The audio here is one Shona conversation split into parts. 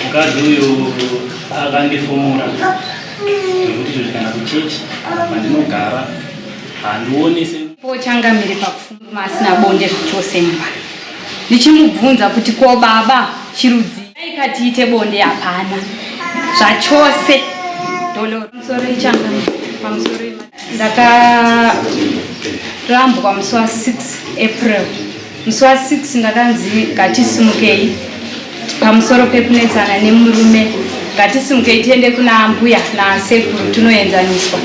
mukadzi uyu akandifumura nekuti izvozvi kana kuchechi pandinogara handioni se pochangamire pakufuma asina bonde zvachose mba ndichimubvunza kuti ko baba chirudzi aikatiite bonde hapana zvachose doloro musoro ichangamire pamusoro ndakarambwa musi wa 6 april Musi wa 6 ndakanzi ngatisimukei pamusoro pekunetsana nemurume ngatisimukei tiende kuna ambuya nasekuru tunoenzaniswa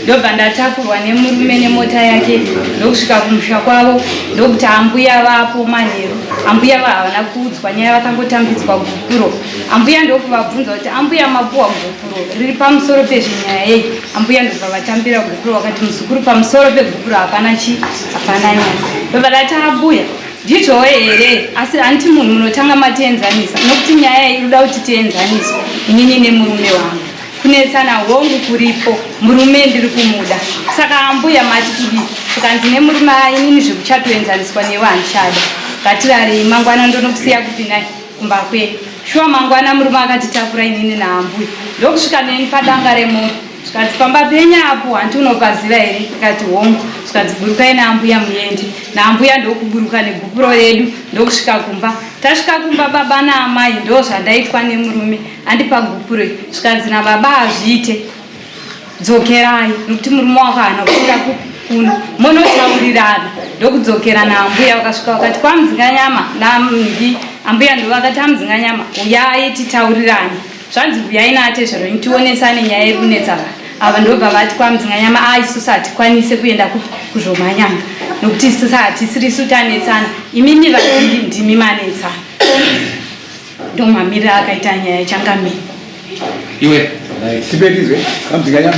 ndobva ndatakurwa nemurume nemota yake ndokusvika kumusha kwavo ndokuti ambuya vapo manheru ambuya va havana kuudzwa nyaya vakangotambidzwa gupuro ambuya ndokuvabvunza kuti ambuya mapuwa gupuro riri pamusoro pezvenyaya yei ambuya ndobva vatambira gupuro vakati muzukuru pamusoro pegupuro hapana chii hapana nyaya baba lataabuya ndizvowe here asi hanti munhu munotanga matienzanisa nokuti nyaya iyi inoda kuti tienzaniswe inini nemurume wangu kunetsana hongu kuripo murume ndiri kumuda saka ambuya mati kudii tikanzi nemurume ainini zvekuchatoenzaniswa newe handichada ngatirarei mangwana ndonokusiya kupi nai kumba kwedu shuwa mangwana murume akatitakura inini naambuya ndokusvika neni padanga remunhu zvikanzi pamba penyu apo hanti unopaziva here ndikati hongu zvikanzi burukai naambuya muende naambuya ndokuburuka negupuro redu ndokusvika kumba tasvika kumba baba naamai ndo zvandaitwa nemurume andipa gupuro zvikanzi nababa hazviite dzokerai nokuti murume wako hana kuenda kupi kuno monotaurirana ndokudzokera naambuya vakasvika vakati kwamuzinganyama nambi ambuya ndovakati amuzinganyama uyai titaurirane zvanzi huyai naatezverwenyu tionesane nyaya iri kunetsa vanhu ava ndobva vati kwamdzinganyama a ah, isusu hatikwanise kuenda kuzvomanyama nokuti isusu hatisirisu tanetsana imimi vaviri ndimi manetsana ndomamirira akaita nyaya ichangamei iwe tibetizwe kwamdzinganyama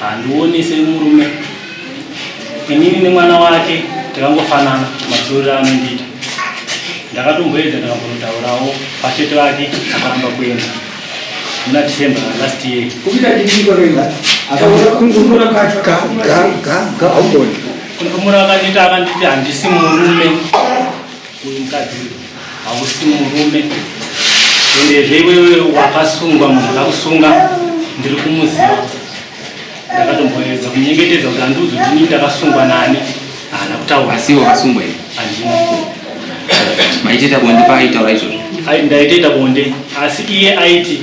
Handioni semurume inini nemwana wake takangofanana matsorero anondiita ndakatomboedza ndakambonotaurawo pachete vake akaramba kuenda muna december last year kumura akanditi akanditi handisi murume Uyu mukadzi hausi murume endezve iwewe wakasungwa munhu akakusunga ndiri kumuziva ndakatomboedza kunyengetedza kuti handiuzi kuti inini ndakasungwa nani haana kutaura asi wakasungwa here handina maiteta bonde paaitaura izvozvo ndaitoita bonde asi iye aiti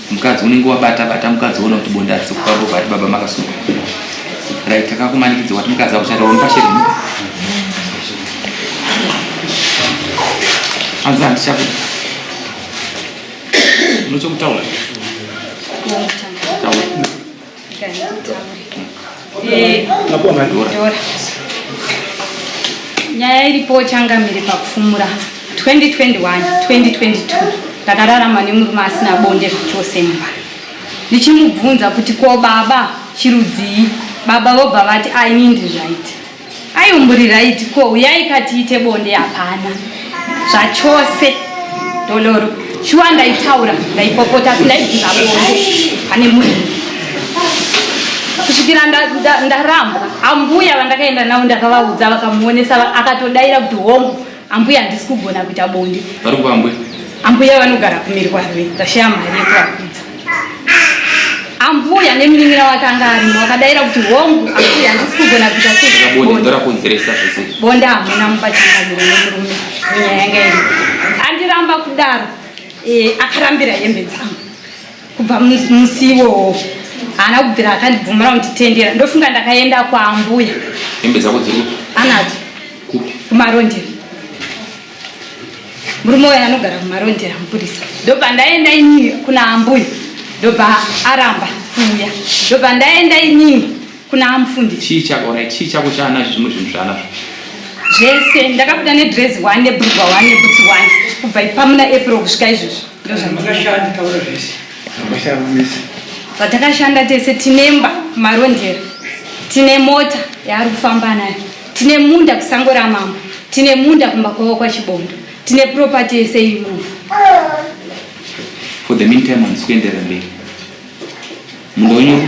mukadzi unenge wabata bata mukadzi woona kuti bonde arisi kufamba ubva ati baba makasunga right takakumanikidza wati mukadzi akushata wamupashe rini anzi handichakuda unochokutaura taura nyaya iripo changamire pakufumura 2021 2022 ndakararama nemurume asina bonde zvachose mumba ndichimubvunza kuti ko baba chirudzii baba vobva vati ainindizvaiti Ayi umburi right ko uyai katiite bonde hapana zvachose doloro shuwa ndaitaura ndaipopota asi ndaibvisa bonde pane munhu kusvikira ndarambwa ambuya vandakaenda navo ndakavaudza vakamuonesa akatodaira kuti hongu Ambuya handisi kugona kuita bonde. Vari kupa ambuya? Ambuya vanogara kumirwa rwe vashaya mari yekurakudza. Ambuya nemuningira wake anga arimo wakadaira kuti hongu ambuya handisi kugona kuita sebonde ndorakonzeresa zvese. Bonde hamuna mupachangamiro nemurume nyaya yanga iri. Andiramba kudaro eh, akarambira hembe dzangu. kubva musi iwowo haana kubvira akandibvumira kunditendera ndofunga ndakaenda kwaambuya hembe dzako dziri anadzo kumarondera murume uya anogara kumarondera mupurisa ndobva ndaenda inii kuna ambuya ndobva aramba kuuya ndobva ndaenda inii Kuna amufundisi. Chii chako ona chii chako chaanazvo zvimwe zvinhu zvaanazvo. Zvese ndakabuda ne dress one ne brugwa one ne boots one kubva ipamuna April kusvika izvozvo. Ndozvandakashanda taura zvese. Ndakashanda zvese. Vatakashanda tese tinemba marondera. Tine mota yaari kufamba nayo. Tine munda kusango ramambo. Tine munda kumba kwavo kwachibondo. Tine property yese iri muno. For the meantime, handisi kuenderera mberi. Munda wenyu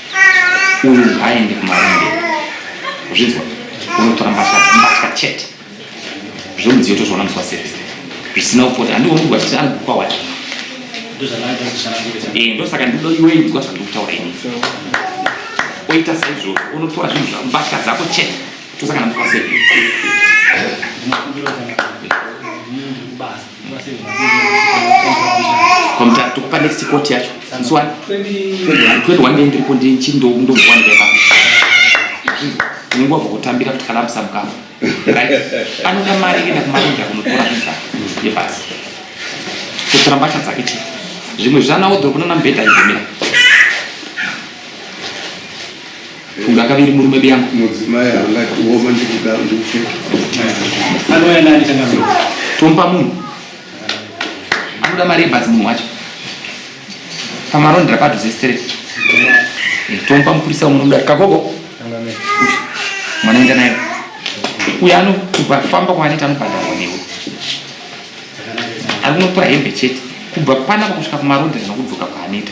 uyu haaende kumarinde zvinzwa unotora mbatya mbatya chete zvemudziyo tozviona musi waservice zvisina kupota handioni kuti wachiti ari kukwa wacho eh, ndosaka ndido iwe inzwa zvandiri kutaura ini oita saizvozvo unotora zvinhu zvako mbatya dzako chete tosangana musi waservice kwamutara tokupa next court yacho msuwani 21 ndei ndiripo ndichindowanika ipapo unenguva vokutambira kuti kana amusabukama right anoda mari enda kumaronda kunotora misa yebasi kutora mbatya dzake chete zvimwe zvana wodhorobona na mbhedha igomira Funga kaviri murume biyangu. Mudzimai angati woma ndikuda ndikupfeka. Anoya nani kana munhu. Tompa munhu. Anoda mari yebhazi munhu wacho. Pamarondera padhuze straight. Eh, Tompa mupurisa umwe nomudari. Kagogo. Mwana enda naye. Uyo anokupa famba kwaaneta anobhadharwa newe. Ari kunotora hembe chete. Kubva panapa kusvika kumarondera nokudzoka kwaaneta.